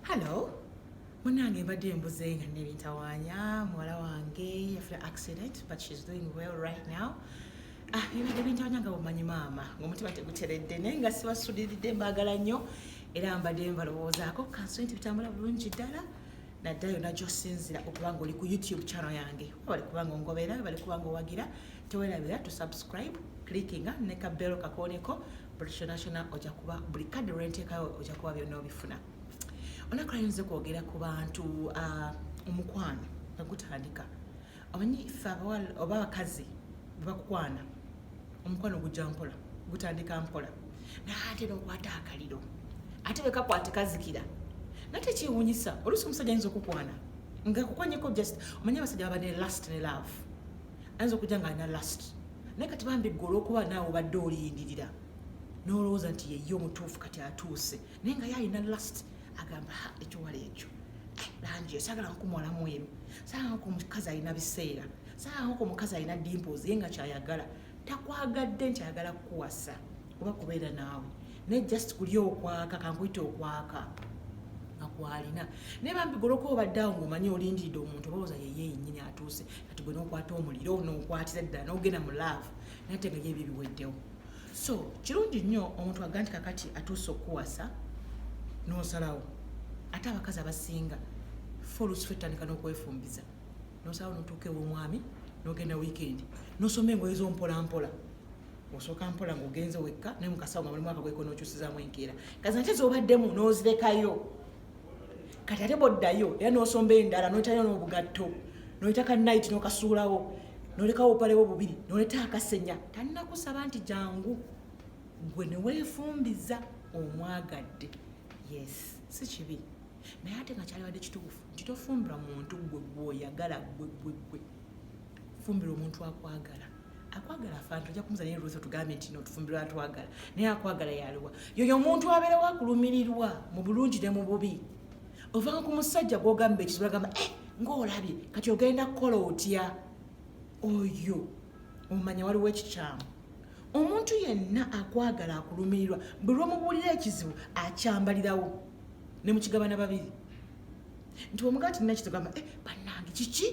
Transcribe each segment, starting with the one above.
hallo munange mbadde embuze nga nebintawanya muwala wange yafuna accident but she's doing well right now ah, bibadde bintawanya nga bumanyi maama ngaomutima teguteredde naye nga sibasuliridde mbaagala nnyo era mbadde mbalowoozaako kansoe nti bitambula bulungi ddala naddala yonna gyosinzira okuba nga oli ku youtube channel yange webali kuba nga ongobeera webali kuba nga owagira tewerabira to subscribe clickinga neka belo kakooneko buli kyona kyona oja kuba buli kadde lwenteekayo oja kuba byonna obifuna olunaku lwayinza okwogera ku bantu ah, omukwano nga gutandika omanyi fe abawala oba abakazi bebakukwana omukwano gujja mpola gutandika mpola naye ate nokwata akaliro ate bekakwate kazikira naye tekyewunyisa oluusi omusajja ayinza okukwana nga kukwanyeko just omanyi abasajja baba ne last ne love ayinza okujja nga alina last naye kati bambi gwe olwokuba naawe obadde olindirira nolowooza nti yeye omutuufu kati atuuse naye nga ye alina last agamba ha ekiwala ekyo eh, langi esagala nkumwalamu emu saako omukazi alina biseera saako omukazi alina dimpozi ye nga kyayagala takwagadde nti ayagala kukuwasa oba kubeera naawe naye just kulya okwaka kankuyita okwaka akwalina naye bambi goloka obadde awo ngaomanyi olindiridde omuntu obawoza yeye yenyini atuuse kati gwe nokwata omuliro nokwatira ddala nogenda mu laavu naye te nga ye ebyo biweddewo so kirungi nnyo omuntu aga nti kakati atuuse okukuwasa nosalawo ate abakazi abasinga fe olusi fe tutandika nokwefumbiza nosalawo notuuka ewomwami nogenda wiikendi nosoma engoye zompolampola osooka mpola ng'ogenze wekka naye mukasawo nga mulimu akagweko n'okyusizaamu enkeera kazi nate z'obaddemu n'ozirekayo kati ate bwoddayo era n'osomba endala n'oyitayo n'obugatto n'oyita ka nayiti n'okasuulawo n'olekawo obupalewo bubiri n'oleta akasenya tannakusaba nti jangu gwe ne weefumbiza omwagadde yes si kibi naye ate nga kyalibadde kituufu nti tofumbira muntu gwe gwoyagala gwe gwe gwe fumbira omuntu akwagala akwagala afantu ojja kumuza naye lwesa otugambye nti notufumbirwa atwagala naye akwagala yaliwa yoyo omuntu abeera wakulumirirwa mu bulungi ne mu bubi ovanga ku musajja gwogamba ekisula gamba eh, ngaolabye kati ogenda kukola otya oyo omumanya waliwo ekikyamu omuntu yenna akwagala akulumirirwa buli lwomubuulira ekizibu akyambalirawo ne mukigabana babiri nti omugaa tinina kitugamba eh, banange kiki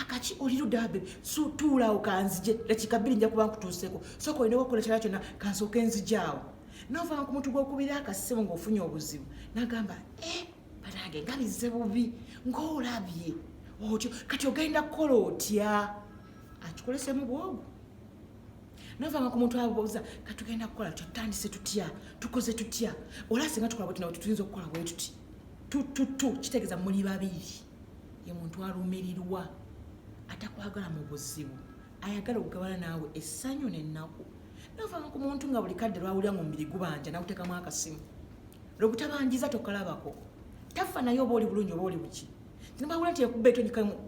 akaki oli ludabe tuulaawo kanzije lekikabiri nja kuba nkutuuseko soka olina wakola kyala kyonna kansooka enzijaawo novanga ku muntu gwokubira akasimu ng'ofunye obuzibu nagamba e eh, banange nga bizze bubi ng'olabye otyo kati ogenda kukola otya akikolesemu bwogu novanga ku muntu abuuza katugenda kukola tya tutandise tutya tukoze tutya ola singa tukola bwetunawe tetuyinza okukola bwetuti tututu kitegeeza muli babiri ye muntu alumirirwa atakwagala mu buzibu ayagala okugabana naawe essanyu n'ennaku navanga ku muntu nga buli kadde lwawulira mu mubiri gubanja nakuteekamu akasimu lwegutabanjiza tokalabako tafa naye oba oli bulungi oba oli buki tinabawula nti ekuba eto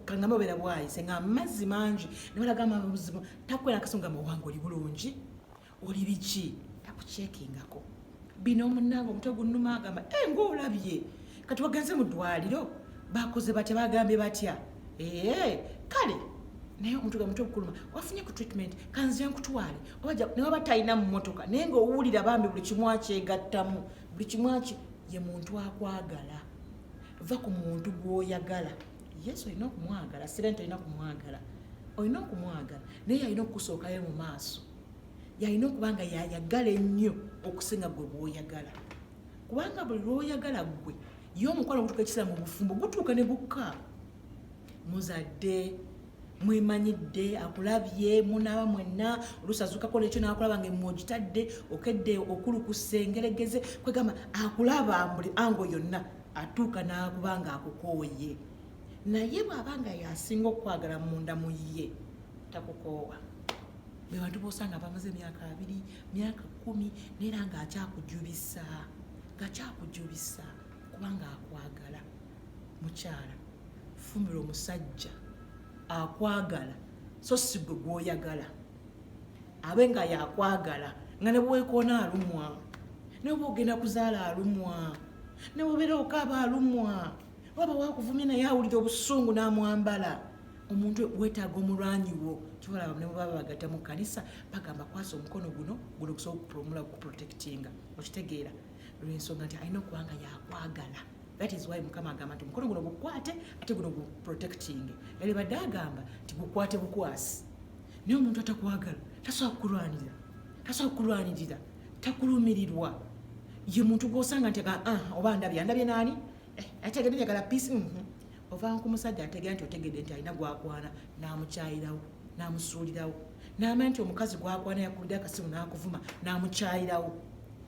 kangamba obeera bwayise nga amazzi mangi newalaga amabuzibu takwera akasimu nga muwanga oli bulungi oli biki takukyekingako bino omunange omutwe gunnuma agamba e eh, ngaolabye kati wagenze mu ddwaliro bakoze batya bagambye batya ee eh, kale naye omuntu ga mutwe gukuluma wafunye ku treatment kanze nkutwale obaja naye waba talina mu motoka naye ngaowulira bambi buli kimu akyegattamu buli kimu aki ye muntu akwagala va ku muntu gwoyagala yesu olina okumwagala sirente olina okumwagala olina okumwagala naye alina okukusookayo mu maaso yalina okuba nga yayagala ennyo okusinga gwe bwoyagala kubanga buli lwoyagala gwe ye omukwano ogutuka ekiseera mu bufumbo gutuuka ne gukka muzadde mwemanyidde akulabye munaaba mwenna oluusi azukako nekyo nakulaba nga emu ogitadde okedde okulukusa engeregeze kwegamba akulaba mbuli ango yonna atuuka nakuba nga akukooye naye bwaba nga yasinga okukwagala munda mu ye takukoowa bebantu bosanga bamaze emyaka abiri myaka kumi naera nga akyakujubisa nga kyakujubisa kubanga akwagala mukyala fumira omusajja akwagala so sigwe gwoyagala abe nga yakwagala nga nebwekona alumwa neba ogenda kuzaala alumwa newobera okaaba alumwa waba wakuvumye naye awulira obusungu namwambala omuntu wetaaga omulwanyi wo kibalaba ne bwebaba bagata mu kanisa bagamba kwasa omukono guno guno okusobola okupromula okuprotectinga okitegeera lwensonga nti alina okuba nga yakwagala that is why mukama agamba nti omukono guno gukwate ate guno guprotectinge yali badde agamba nti gukwate bukwasi naye omuntu atakwagala tasobola kukulwanirira tasobola kukulwanirira takulumirirwa ye muntu gwosanga nti ah, oba ndabye andabye naani eh, ate agende njagala peace mhm. ovanga ku musajja ategera nti otegedde nti alina gwakwana n'amukyayirawo n'amusuulirawo n'amanya nti omukazi gwakwana yakulidde akasimu n'akuvuma n'amukyayirawo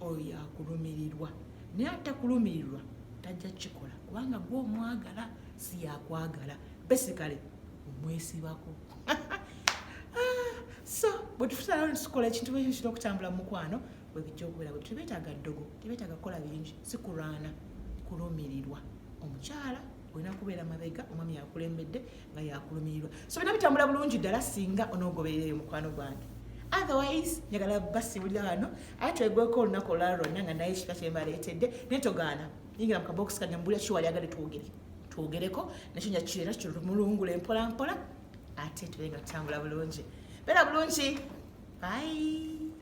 oyo yakulumirirwa naye atakulumirirwa tajja kukikola kubanga gwe omwagala si yakwagala besikale omwesibako ah, so bwe tufusaalawo ne tukola ekintu ekyo kino okutambula mu mukwano bwebijja okubeera bwe tebetaaga ddogo tebetaaga kukola bingi si kulwana kulumirirwa omukyala olina kubeera mabega omwami yakulembedde nga yakulumirirwa so bina bitambula bulungi ddala singa onoogoberereyo omukwano gwange otherwise njagala basibulira wano aye twegweko olunaku olwala lwonna nga naye ekika kyembaleetedde naye togaana yingira mu kabokisi kange mbulira kiwali agale twogere twogereko nakyo njakirera kirumulungula empolampola ate tubenga tutambula bulungi beera bulungi bye